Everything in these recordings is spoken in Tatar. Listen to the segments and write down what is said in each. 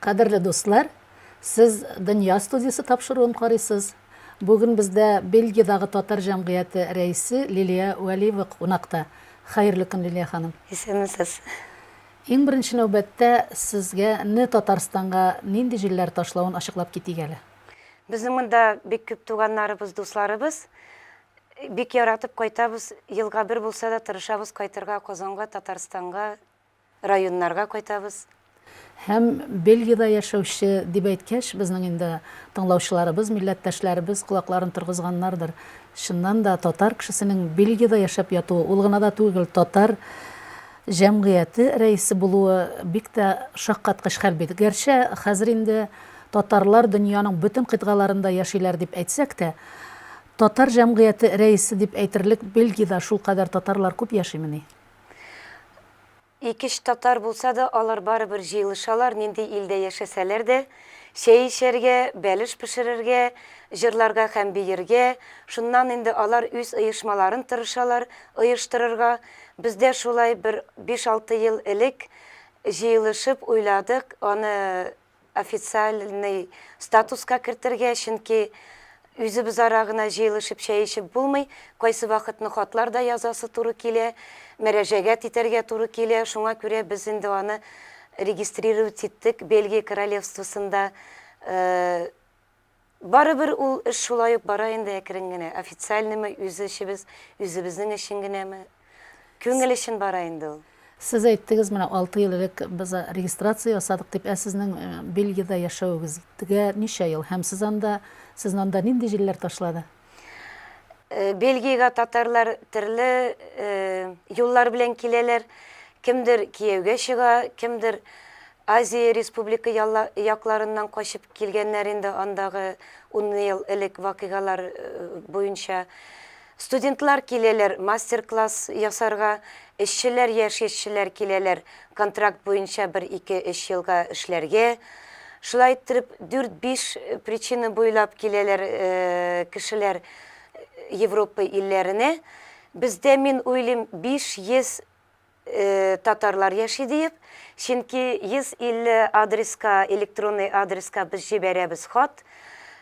Кадерле дуслар, сез Дөнья студиясе тапшыруын карыйсыз. Бүген бездә Бельгиядәге татар җәмгыяте рәисе Лилия Вәлиева кунакта. Хәерле көн, Лилия ханым. Исәнмесез. Иң беренче нәүбәттә сезгә не Татарстанга нинди җилләр ташлавын ачыклап китик әле. Безнең монда бик күп туганнарыбыз, дусларыбыз. Бик яратып кайтабыз. Елга бер булса да тырышабыз кайтырга Казанга, Татарстанга, районнарга кайтабыз. Һәм Бельгиядә яшәүче дип әйткәч, безнең инде тыңлаучыларыбыз, милләттәшләребез колакларын торгызганнардыр. Чыннан да, татар кешесенең Бельгиядә яшәп ятуы, ул гына да түгел, татар, җәмгыяте рәисе булуы бик тә шаккаткыч хәл бит. Гәрчә хәзер инде татарлар дөньяның бөтен кыйтгаларында яшиләр дип әйтсәк тә, татар җәмгыяте рәисе дип әйтерлек Бельгиядә шулкадәр татарлар күп яшимени? Икеш татар булса да, алар барыбер җыелышалар, нинди илдә яшәсәләр дә. Чәй эчәргә, бәлеш пешерергә, җырларга һәм биергә. Шуннан инде алар үз оешмаларын тырышалар оештырырга. Бездә шулай бер биш-алты ел элек җыелышып уйладык аны официальный статуска кертергә, чөнки үзебезара гына җыелышып чәй эчеп булмый, кайсы вакытны хатлар да язасы туры килә, мөрәҗәгать итәргә туры килә, шуңа күрә без инде аны регистрировать иттек Бельгия Королевствосында. Барыбер ул эш шулай ук бара инде әкрен генә, официальныймы, үз эшебез, үзебезнең өчен генәме, күңел өчен бара инде ул. Сез әйттегез, менә алты ел элек без регистрация ясадык дип, ә сезнең Бельгиядә яшәвегезгә ничә ел һәм сез анда, сезне анда нинди җилләр ташлады? Э, Бельгиягә татарлар төрле э, юллар белән киләләр. Кемдер кияүгә чыга, кемдер Азия республика якларыннан качып килгәннәр инде андагы 10 ел элек вакыйгалар э, буенча. Студентлар киләләр мастер-класс ясарга, эшчеләр, яшь эшчеләр киләләр контракт буенча бер-ике-өч елга эшләргә, шулай иттереп, дүрт-биш причина буйлап киләләр кешеләр Европа илләренә. Бездә, мин уйлыйм, 500 татарлар яши диеп, чөнки 150 адреска, электронный адреска без җибәрәбез хат,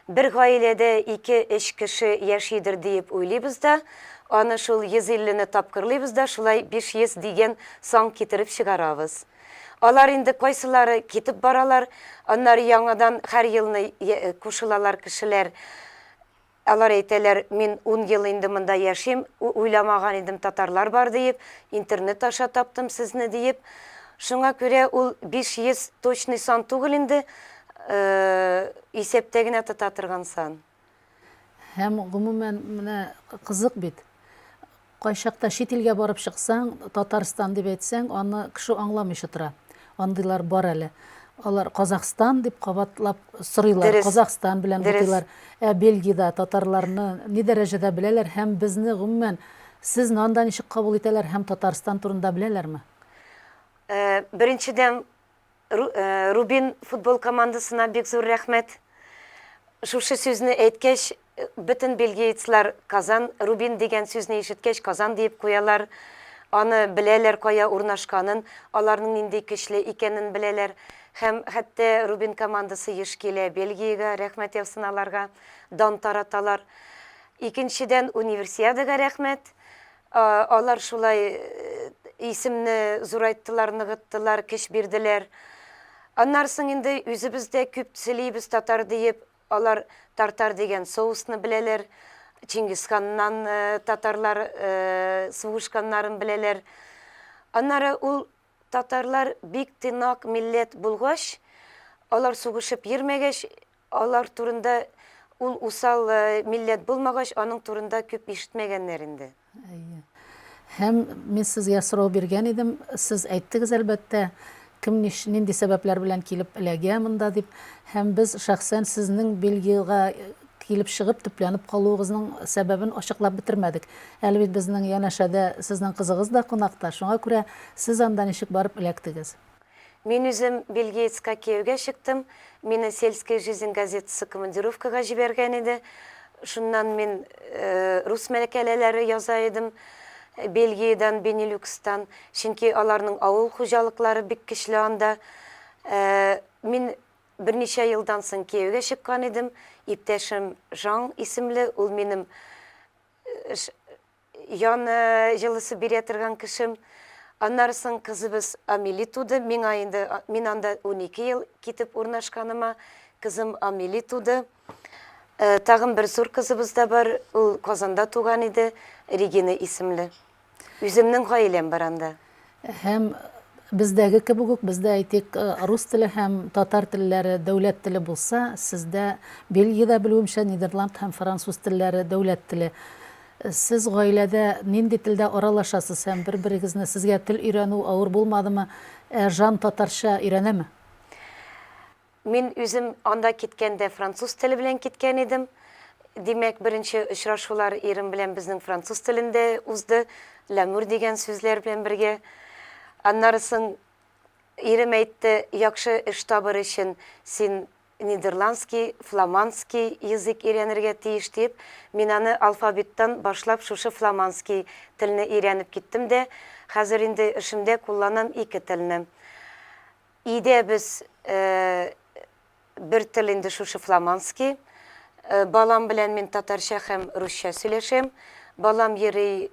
Бер гаиләдә ике-өч кеше яшидер диеп уйлыйбыз да, аны шул 150 не тапкырлыйбыз да шулай 500 дигән сан китереп чыгарабыз. Алар инде кайсылары китеп баралар, аннары яңадан һәр елны кушылалар кешеләр. Алар әйтәләр, мин ун ел инде монда яшим, уйламаган идем татарлар бар диеп, интернет аша таптым сезне диеп. Шуңа күрә ул 500 точный сан түгел инде. Исәптә генә тота торган сан. Һәм, гомумән, менә кызык бит. Кайчакта чит илгә барып чыксаң, Татарстан дип әйтсәң, аны кеше аңламыйча тора. Андыйлар бар әле. Алар Казахстан дип кабатлап сорыйлар, Казахстан белән бутыйлар. Ә Бельгиядә татарларны ни дәрәҗәдә беләләр һәм безне, гомумән, сезне анда ничек кабул итәләр һәм Татарстан турында беләләрме? Беренчедән, Рубин футбол командасына бик зур рәхмәт. Шушы сүзне әйткәч, бөтен бельгиецлар Казан, Рубин дигән сүзне ишеткәч, Казан диеп куялар. Аны беләләр, кая урнашканын, аларның нинди көчле икәнен беләләр. Һәм хәтта Рубин командасы еш килә Бельгиягә, рәхмәт яусын аларга, дан тараталар. Икенчедән, Универсиадага рәхмәт. Алар шулай исемне зурайттылар, ныгыттылар, көч бирделәр. Аннары соң инде үзебез дә күп сөйлибез татар диеп, алар тартар дигән соусны беләләр, Чингисханнан татарлар сугышканнарын беләләр. Аннары ул Татарлар бик тыйнак милләт булгач, алар сугышып йөрмәгәч, алар турында ул усал милләт булмагач, аның турында күп ишетмәгәннәр инде. Әйе. Һәм мин сезгә сорау биргән идем, сез әйттегез, әлбәттә, кем ниш, нинди сәбәпләр белән килеп эләгә монда дип. Һәм без шәхсән сезнең Бельгиягә Килеп чыгып, төпләнеп калуыгызның сәбәбен ачыклап бетермәдек. Әле бит безнең янәшәдә сезнең кызыгыз да кунакта, шуңа күрә сез анда ничек барып эләктегез? Мин үзем Бельгиецка кияүгә чыктым. Мине Сельская жизнь газетасы командировкага җибәргән иде. Шуннан мин рус мәкаләләре яза идем, Бельгиядән, Бенилюкстан, чөнки аларның авыл хуҗалыклары бик көчле анда. Мин Берничә елдан соң кияүгә чыккан идем, иптәшем Жан исемле, ул минем ян җылысы бирә торган кешем. Аннары соң кызыбыз Амели туды, миңа инде, мин анда унике ел китеп урнашканыма, кызым Амели туды. Тагын бер зур кызыбыз да бар, ул Казанда туган иде, Регина исемле. Үземнең гаиләм бар анда. Һәм бездәге кебек үк, бездә әйтик, э, рус теле һәм татар телләре дәүләт теле булса, сездә Бельгиядә белүемчә Нидерланд һәм француз телләре дәүләт теле. Э, сез гаиләдә нинди телдә аралашасыз һәм бер-берегезне сезгә тел өйрәнү авыр булмадымы? Ә Жан татарча өйрәнәме? Мин үзем анда киткәндә француз теле белән киткән идем. Димәк, беренче очрашулар ирем белән безнең француз телендә узды, ләмүр дигән сүзләр белән бергә. Аннары соң ирем әйтте, яхшы эш табыр өчен син нидерландский, фламандский язык өйрәнергә тиеш диеп, мин аны алфавиттан башлап шушы фламандский телне өйрәнеп киттем дә, хәзер инде эшемдә кулланам ике телне. Өйдә без бер тел инде шушы фламандский. Балам белән мин татарча һәм русча сөйләшәм. Балам йөри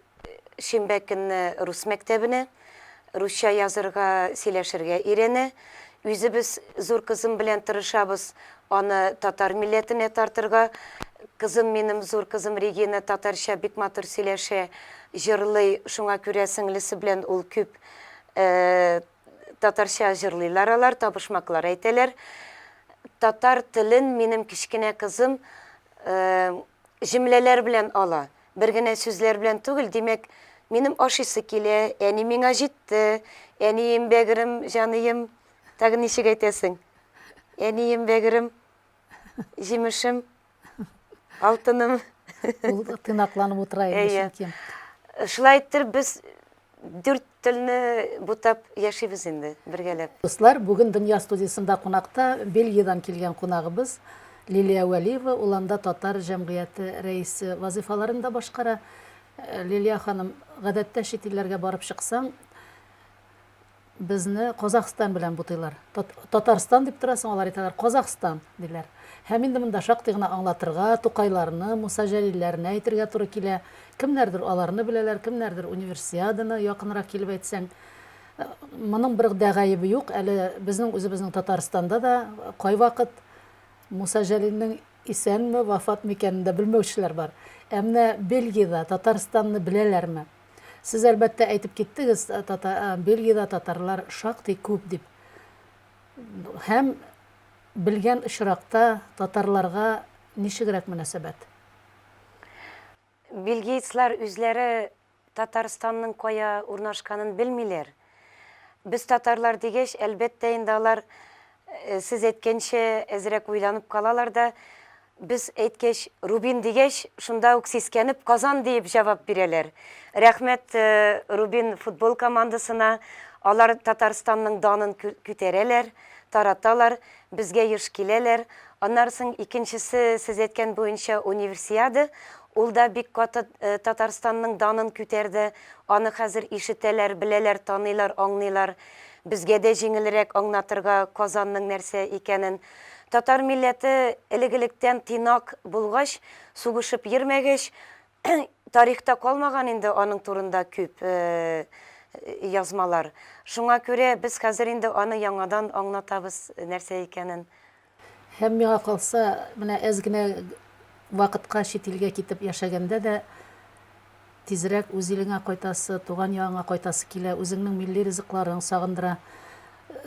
шимбә көнне рус мәктәбенә. Русча язырга, сөйләшергә өйрәнә. Үзебез зур кызым белән тырышабыз аны татар милләтенә тартырга. Кызым минем, зур кызым Регина татарча бик матур сөйләшә, җырлый. Шуңа күрә сеңлесе белән ул күп Татарча җырлыйлар алар, табышмаклар әйтәләр. Татар телен минем кечкенә кызым җөмләләр белән ала. Бер генә сүзләр белән түгел, димәк, минем ашыйсы килә, әни миңа җитте, әнием, бәгерем, җаныем. Тагын ничек әйтәсең? Әнием, бәгерем, җимешем. Алтыным. Ул тыйнакланып утыра инде Әйе. чөнки. Шулай иттереп без дүрт телне бутап яшибез инде бергәләп. Дуслар, бүген Дөнья студиясендә кунакта Бельгиядән килгән кунагыбыз Лилия Вәлиева, ул анда татар җәмгыяте рәисе вазыйфаларын да башкара. Э, Лилия ханым, гадәттә чит илләргә барып чыксаң, Безне Казахстан белән бутыйлар. Татарстан дип торасың, алар әйтәләр, Казахстан, диләр. Һәм инде монда шактый гына аңлатырга, Тукайларны, Муса Җәлилләрне әйтергә туры килә. Кемнәрдер аларны беләләр, кемнәрдер Универсиаданы, якынрак килеп әйтсәң. Моның бер дә гаебе юк, әле безнең үзебезнең Татарстанда да кайвакыт Муса Җәлилнең исәнме, вафатмы икәнен дә белмәүчеләр бар. Ә менә Бельгиядә Татарстанны беләләрме? Сез, әлбәттә, әйтеп киттегез, тата, Бельгиядә татарлар шактый күп дип. Һәм белгән очракта татарларга ничегрәк мөнәсәбәт? Бельгиецлар үзләре Татарстанның кая урнашканын белмиләр. Без татарлар дигәч, әлбәттә инде алар сез әйткәнчә әзрәк уйланып калалар да, без әйткәч, Рубин дигәч, шунда ук сискәнеп Казан диеп җавап бирәләр. Рәхмәт Рубин футбол командасына, алар Татарстанның данын күтәрәләр, тараталар, Безгә еш киләләр. Аннары соң икенчесе, сез әйткән буенча, Универсиада. Ул да бик каты Татарстанның данын күтәрде. Аны хәзер ишетәләр, беләләр, таныйлар, аңлыйлар. Безгә дә җиңелрәк аңнатырга Казанның нәрсә икәнен. Татар милләте элек-электән тыйнак булгач, сугышып йөрмәгәч, Тарихта калмаган инде аның турында күп язмалар. Шуңа күрә без хәзер инде аны яңадан аңлатабыз, нәрсә икәнен. Һәм миңа калса, менә әз генә вакытка чит илгә китеп яшәгәндә дә, тизрәк үз илеңә кайтасы, туган ягыңа кайтасы килә, үзеңнең милли ризыкларың сагындыра.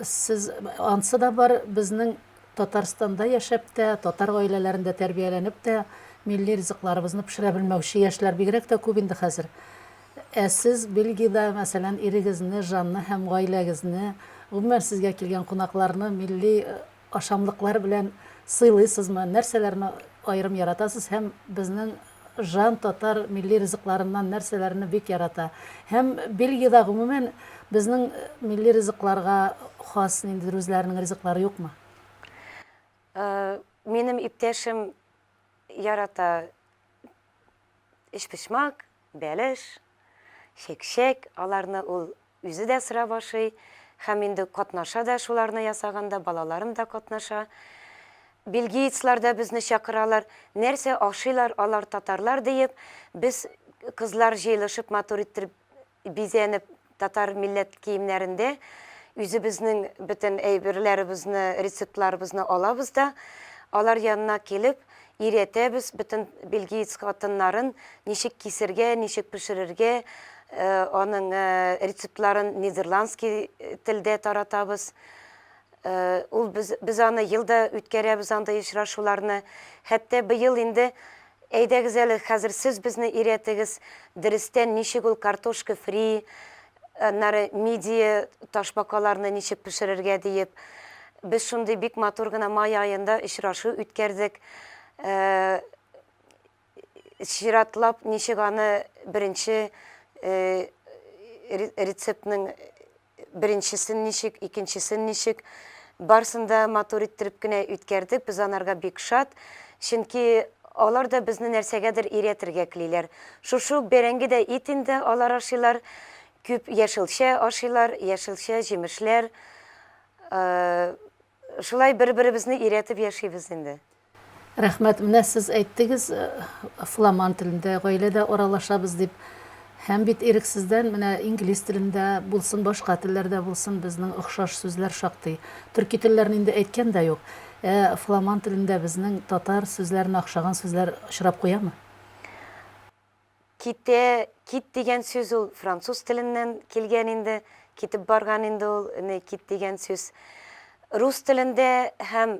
Сез, ансы да бар, безнең Татарстанда яшәп тә, татар гаиләләрендә тәрбияләнеп тә, милли ризыкларыбызны пешерә белмәүче яшьләр бигрәк тә күп инде хәзер. Ә сез Бельгиядә, мәсәлән, ирегезне, Жанны һәм гаиләгезне, гомумән, сезгә килгән кунакларны милли ашамлыклар белән сыйлыйсызмы? Нәрсәләрне аерым яратасыз һәм безнең Жан татар милли ризыкларыннан нәрсәләрне бик ярата? Һәм Бельгиядә гомумән безнең милли ризыкларга хас ниндидер үзләренең ризыклары юкмы? Минем иптәшем ярата өчпочмак, бәлеш, чәкчәк, аларны ул Үзе дә сорап ашый һәм инде катнаша да шуларны ясаганда, балаларым да катнаша. Бельгиецлар да безне чакыралар. Нәрсә ашыйлар алар татарлар диеп, без кызлар җыелышып матур иттереп бизәнеп татар милләт киемнәрендә үзебезнең бөтен әйберләребезне, рецептларыбызны алабыз да алар янына килеп Өйрәтәбез бөтен бельгиец хатыннарын, ничек кисергә, ничек пешерергә, аның рецептларын нидерландский телдә таратабыз. Ул без, без аны елда үткәрәбез андый очрашуларны. Хәтта быел инде әйдәгез әле хәзер сез безне өйрәтегез, дөрестән ничек ул картошка фри, Аннары мидия, ташбакаларны ничек пешерергә диеп, без шундый бик матур гына май аенда очрашу үткәрдек. Чиратлап, ничек аны беренче рецептның беренчесен ничек, икенчесен ничек, Барсын да матур иттереп кенә үткәрдек, без анарга бик шат, чөнки алар да безне нәрсәгәдер өйрәтергә клиләр. Шушы ук бәрәңге дә ит инде алар ашыйлар, күп яшелчә ашыйлар, яшелчә, җимешләр, шулай бер-беребезне өйрәтеп яшибез инде. Рәхмәт. Менә сез әйттегез, фламан телендә гаиләдә аралашабыз дип. Һәм бит ирексездән менә инглиз телендә булсын, башка телләрдә булсын, безнең охшаш сүзләр шактый. Төрки телләрне инде әйткән дә юк. Ә фламан телендә безнең татар сүзләренә охшаган сүзләр очрап куямы? Китә, кит дигән сүз ул француз теленнән килгән инде, китеп барган инде ул, не кит дигән сүз. Рус телендә һәм.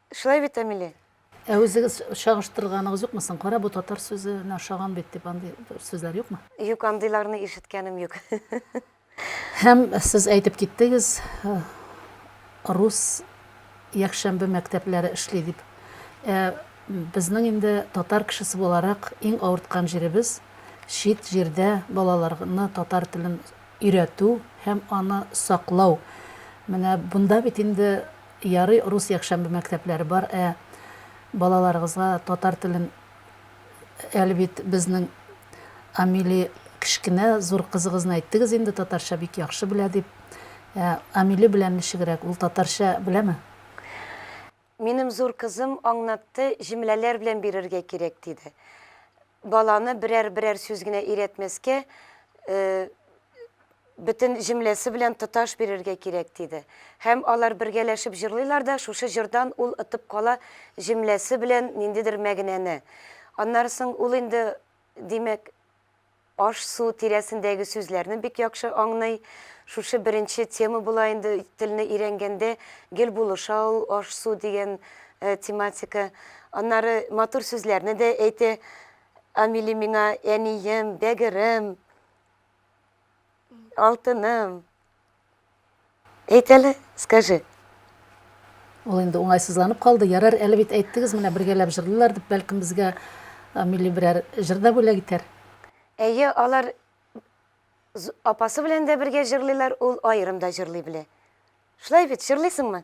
Шулай бит, Амиле? Ә үзегез чагыштырганыгыз юкмы соң? Кара, бу татар сүзенә ошаган бит, дип андый сүзләр юкмы? Юк, андыйларны ишеткәнем юк. Һәм сез әйтеп киттегез, рус якшәмбе мәктәпләре эшли дип. Ә безнең инде татар кешесе буларак иң авырткан җиребез чит җирдә балаларны татар телен өйрәтү һәм аны саклау. Менә бунда бит инде Ярый рус якшәмбе мәктәпләре бар, ә балаларыгызга татар телен әле бит безнең Амили кечкенә, зур кызыгызны әйттегез инде татарча бик яхшы белә дип. Ә Амили белән ничегрәк, ул татарча беләме? Минем зур кызым аңнатты, җөмләләр белән бирергә кирәк диде. Баланы берәр-берәр сүз генә өйрәтмәскә, э. Бөтен җөмләсе белән тоташ бирергә кирәк, диде. Һәм алар бергәләшеп җырлыйлар да, шушы җырдан ул отып кала җөмләсе белән ниндидер мәгънәне. Аннары соң ул инде, димәк, аш-су тирәсендәге сүзләрне бик яхшы аңлый. Шушы беренче тема була инде телне өйрәнгәндә, гел булыша ул аш-су дигән тематика. Аннары матур сүзләрне дә әйтә, Амили миңа, әнием, бәгырем. Алтыным. Әйт әле, скажи. Ул инде уңайсызланып калды. Ярар, әле бит әйттегез, менә бергәләп җырлыйлар дип, бәлкем безгә милли берәр җыр да бүләк итәр. Әйе, алар апасы белән дә бергә җырлыйлар, ул аерым да җырлый белә. Шулай бит, җырлыйсыңмы?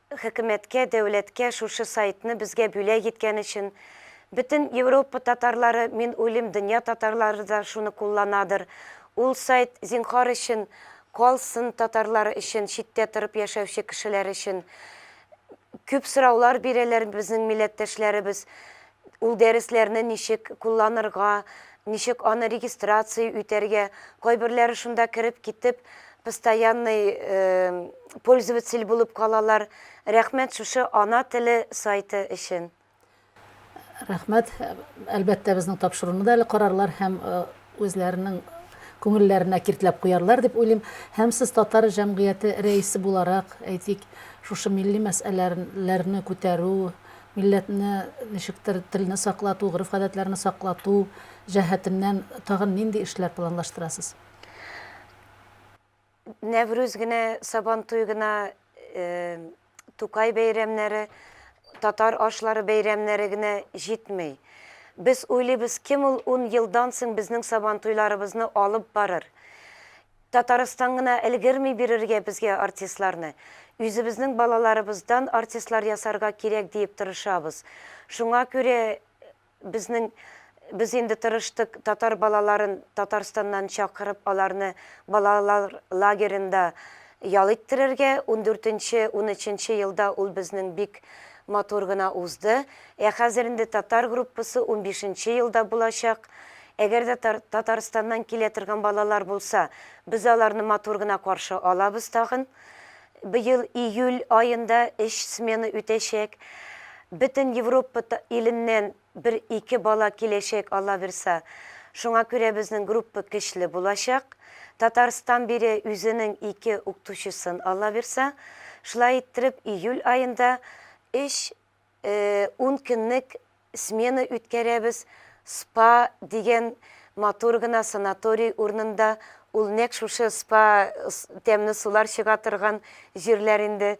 Хөкүмәткә, дәүләткә шушы сайтны безгә бүләк иткән өчен, бөтен Европа татарлары, мин уйлыйм, дөнья татарлары да шуны кулланадыр. Ул сайт, зинхар өчен, калсын татарлар өчен, читтә торып яшәүче кешеләр өчен. Күп сораулар бирәләр безнең милләттәшләребез. Ул дәресләрне ничек кулланырга, ничек аны регистрация үтәргә, кайберләре шунда кереп китеп, постоянный пользователь булып калалар. Рәхмәт шушы Ана теле сайты өчен. Рәхмәт. Әлбәттә, безнең тапшыруны да әле карарлар һәм үзләренең күңелләренә киртләп куярлар дип уйлыйм. Һәм сез татар җәмгыяте рәисе буларак, әйтик, шушы милли мәсьәләләрне күтәрү, милләтне ничектер телне саклату, гореф-гадәтләрне саклату җәһәтеннән тагын нинди эшләр планлаштырасыз? Нәврүз генә, Сабантуй гына, Тукай бәйрәмнәре, татар ашлары бәйрәмнәре генә җитми. Без уйлыйбыз, кем ул ун елдан соң безнең Сабантуйларыбызны алып барыр? Татарстан гына өлгерми бирергә безгә артистларны. Үзебезнең балаларыбыздан артистлар ясарга кирәк диеп тырышабыз. Шуңа күрә Безнең без инде тырыштык татар балаларын Татарстаннан чакырып аларны балалар лагеренда ял иттерергә, ундүртенче, унөченче елда ул безнең бик матур гына узды. Ә хәзер инде татар группасы унбишенче елда булачак. Әгәр дә Татарстаннан килә торган балалар булса, без аларны матур гына каршы алабыз тагын. Быел июль аенда өч смена үтәчәк. Бөтен Европа иленнән бер-ике бала киләчәк, аллабирса. Шуңа күрә безнең группа көчле булачак. Татарстан бирә үзенең ике укытучысын, аллабирса. Шулай иттереп, июль аенда өч Ун көнлек смена үткәрәбез, спа дигән матур гына санаторий урынында, ул нәкъ шушы спа, тәмле сулар чыга торган җирләр инде,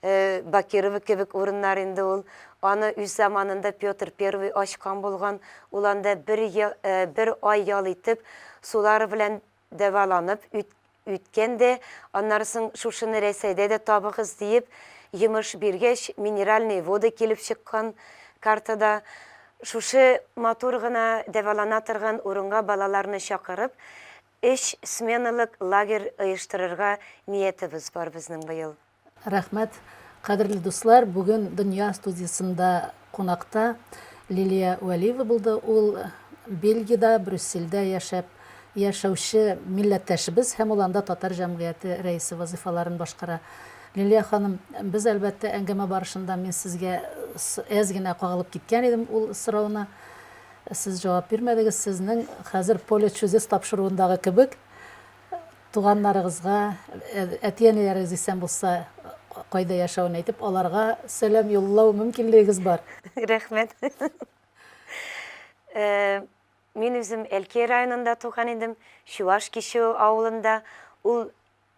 Бакирово кебек урыннар инде ул. Аны үз заманында Петр I ачкан булган, ул анда бер ай ял итеп, сулары белән Дәваланып үт үткән дә, аннары соң шушыны Рәсәйдә дә табыгыз, диеп, йомыш биргәч, минеральные воды килеп чыккан картада. Шушы матур гына дәвалана торган урынга балаларны чакырып, өч сменалык лагерь оештырырга ниятебез бар безнең быел. Рәхмәт. Кадерле дуслар, бүген Дөнья студиясендә кунакта Лилия Вәлиева булды. Ул Бельгиядә, Брюссельдә яшәп яшәүче милләттәшебез һәм ул анда татар җәмгыяте рәисе вазыйфаларын башкара. Лилия ханым, без, әлбәттә, әңгәмә барышында мин сезгә әз генә кагылып киткән идем ул сорауны. Сез җавап бирмәдегез. Сезнең хәзер поле чудес тапшыруындагы кебек, туганнарыгызга, әти-әниләрегез исән булса, кайда яшәвен әйтеп, аларга сәлам юллау мөмкинлегегез бар. Рәхмәт. Мин үзем Әлки районында туган идем, Чуаш Кичү авылында. Ул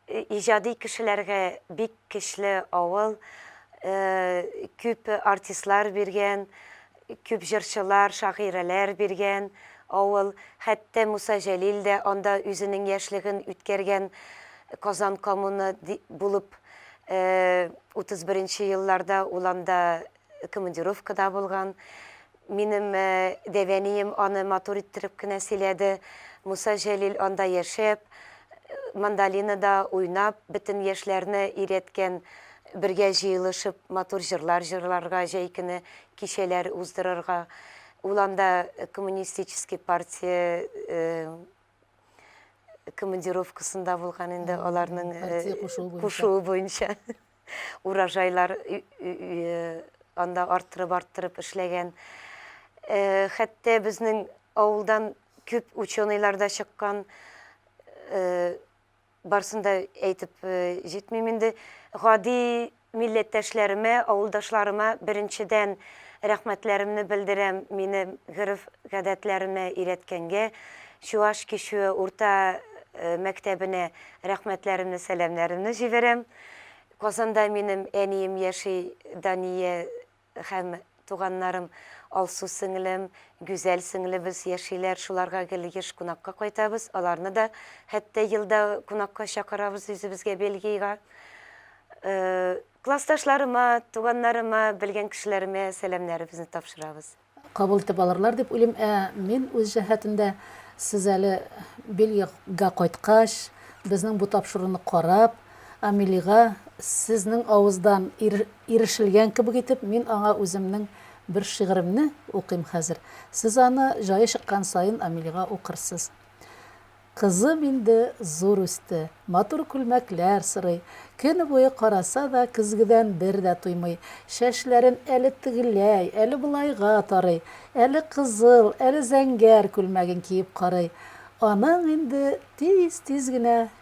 иҗади кешеләргә бик көчле авыл, күп артистлар биргән, Күп җырчылар, шагыйрәләр биргән авыл. Хәтта Муса Җәлил дә анда үзенең яшьлеген үткәргән. Казан коммуна ди булып, 31 нче елларда ул анда командировкада булган. Минем дәвәнием аны матур иттереп кенә сөйләде. Муса Җәлил анда яшәп, мандолинада уйнап, бөтен яшьләрне өйрәткән. Бергә җыелышып, матур җырлар җырларга, җәй көне кичәләр уздырырга, ул анда коммунистический партия командировкасында булган инде, аларның кушуы буенча урожайлар анда арттырып-арттырып эшләгән. Хәтта безнең авылдан күп ученыйлар да чыккан. Барсын да әйтеп җитмим инде. Гади милләттәшләремә, авылдашларыма беренчедән рәхмәтләремне белдерәм, мине гореф-гадәтләремә өйрәткәнгә, Чуаш кичүе урта мәктәбенә рәхмәтләремне, сәламнәремне җибәрәм. Казанда минем әнием яши, Дания. Һәм, туганнарым, Алсу сеңлем, Гүзәл сеңлебез яшиләр, шуларга гел еш кунакка кайтабыз, аларны да хәтта елда кунакка чакырабыз үзебезгә Бельгийга. Классташларыма, туганнарыма, белгән кешеләремә сәламнәребезне тапшырабыз. Кабул итеп алырлар дип уйлыйм. Ә мин үз җәһәтемдә, сез әле Бельгийга кайткач, безнең бу тапшыруны карап, Амелига, сезнең авыздан ирешелгән кебек итеп, мин аңа үземнең бер шигыремне укыйм хәзер. Сез аны җае чыккан саен Амелига укырсыз. Кызым инде зур үсте. Матур күлмәкләр сорый. Көне буе караса да, көзгедән бер дә туймый. Чәчләрен әле тегеләй, әле болайга тарый. Әле кызыл, әле зәңгәр күлмәген киеп карый. Аның инде тиз-тиз генә